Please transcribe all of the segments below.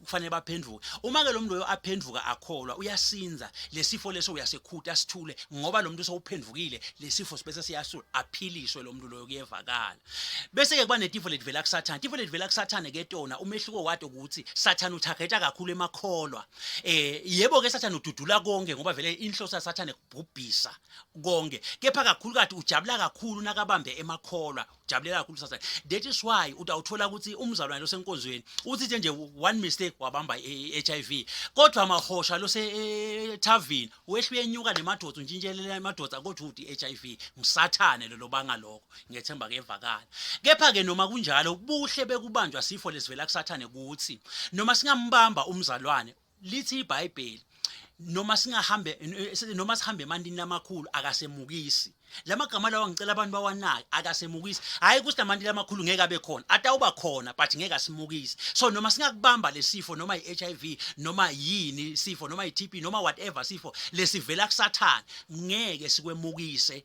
kufanele baphenduke uma ke lo muntu loyo aphenduka akholwa uyasinza lesifo leso uyasekhuta sithule ngoba lo muntu sowuphendukile lesifo sibese siyasula aphiliswe lo muntu loyo kuyevakala bese ke kuba netifo letivela kusathane tifo letivela kusathane ke tona umehluko wato ukuthi sathane uthageta kakhulu emakholwa eh yebo ke sathane ududula konke ngoba vele inhloso yasathane kubhubhisa konke kepha kakhulu kade ujabula kakhulu nakabambe emakholwa jabulela kakhulu sasa that is why uthi awuthola ukuthi umzalwane losenkonzweni uthi nje one mistake wabamba i-hiv kodwa amahosha losethavini e, wehluye enyuka nemadoda untshintshelela emadoda kodwa uthi i-hiv ngisathane lelo banga lokho ngethemba kevakala kepha-ke noma kunjalo ubuhle bekubanjwa sifo lesivela kusathane kuthi noma singambamba umzalwane lithi iBhayibheli noma singahambe noma sihambe emantini amakhulu akasemukisi lamagama lawa ngicela abantu bawanake akasemukisi hayi ukuthi amantini amakhulu ngeke abe khona atawuba khona but ngeke asimukisi so noma singakubamba lesifo noma iHIV noma yini sifo noma iTB noma whatever sifo lesivela kusathana ngeke sikwemukise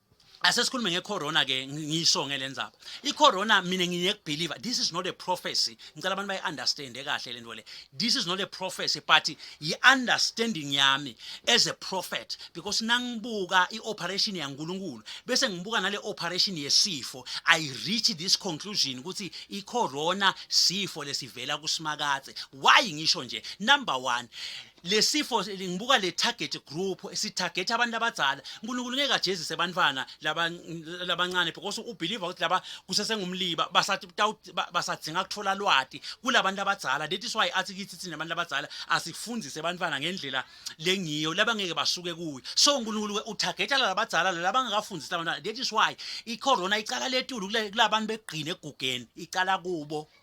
asesikhulume ngecorona ke ngisho ngelenzaba icorona mina ngiyekubelieve this is not a prophecy ngicela abantu bayiunderstand kahle lento le this is not a prophecy but yiunderstanding yami as a prophet because nangibuka ioperation yaNkuluNkulu bese ngibuka nale operation yesifo i reach this conclusion ukuthi icorona sifo lesivela kusimakathe why ngisho nje number 1 lesifo ngibuka le target group sitarget abantu abadzala uNkulunkulu ngeke ajezise abantwana labancane because ubelieve ukuthi laba kusesengumliba basathi basadzinga kuthola lwati kulabantu abadzala that is why athi kithi thina abantu abadzala asifundise abantwana ngendlela lengiyo labangeke basuke kuyo so uNkulunkulu utargeta labadzala labangakafundisi abantwana that is why icorona icala letulu kulabantu begqine egugeni icala kubo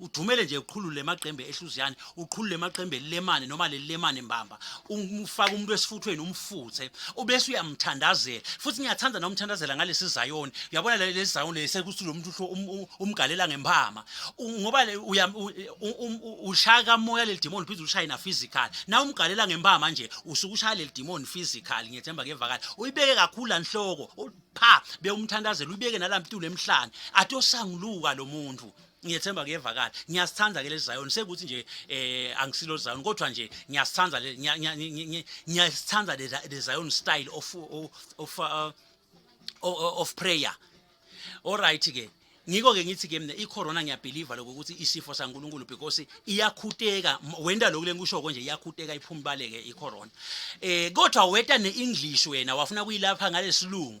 udumele nje uqhulule emaqembe ehluziyane uqhulule emaqembe lemane noma lelemane mbamba umfaka umuntu esifuthweni umfuthe ubese uyamthandazela futhi ngiyathanda nomthandazela ngalesi zayoni uyabona lesi zayoni lesekuthi lo muntu um, um, umgalela ngempama ngoba um, ushaya kamoya leli demon phinde ulishaye na physical na umgalela ngempama nje usuke ushaya leli demon physical ngiyethemba kevakala uyibeke kakhulu lanhloko pha bewumthandazela uyibeke nalamtulo emhlane atosanguluka lo muntu ngiyethemba kuyevakala ngiyasithanda ke lesiZion sekuthi nje eh angisilo Zion kodwa nje ngiyasithanda le ngiyasithanda le Zion style of of uh, of prayer all right ke ngiko ke ngithi ke mina icorona ngiyabelieve lokho ukuthi isifo saNkuluNkulu because iyakhuteka wenda lokule ngikusho konje iyakhuteka iphumbaleke icorona eh kodwa weta neEnglish wena wafuna kuyilapha ngalesilungu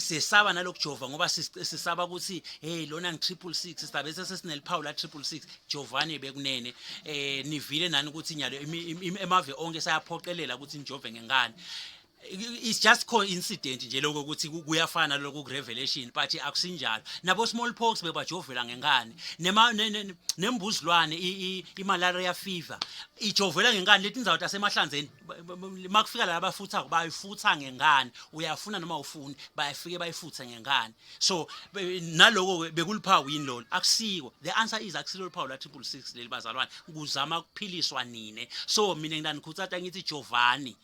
sesaba nalokujova ngoba sisaba ukuthi hey lona ngi triple six sisabe sesesineliphawu la triple six jovane bekunene eh nivile nani ukuthi nyalo emave onke sayaphoqelela ukuthi nijove ngengane it's just coincident nje lokho ukuthi kuyafana lokho ku revelation but akusinjalo nabo small pox bebajovela ngengane nema nembuzilwane i malaria fever ijovela ngengane letinzawo tasemahlanzeni makufika laba bafuthako bayifutha ngengane uyafuna noma ufuni bayafike bayifuthe ngengane so naloko bekuliphawu yini lolo akusiko the answer is akusilo liphawu la triple 6 leli bazalwane kuzama ukuphiliswa nine so mina nginanikhuthatha ngithi jovani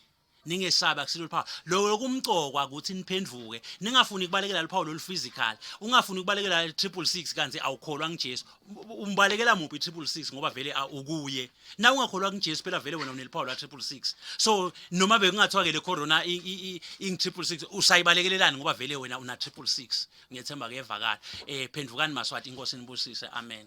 ningesabi akusilo liphawu lokho kumcokwa ukuthi niphenduke ningafuni kubalekela liphawu lolu physical ungafuni kubalekela 666 kanti awukholwa ngiJesu umbalekela muphi triple six ngoba vele ukuye na ungakholwa kujesu phela vele wena uneliphawu la triple six so noma bekungathiwa ke le corona ing triple six usayibalekelelani ngoba vele wena una triple six ngiyethemba kuyevakala um phendukani maswati inkosi nibusise amen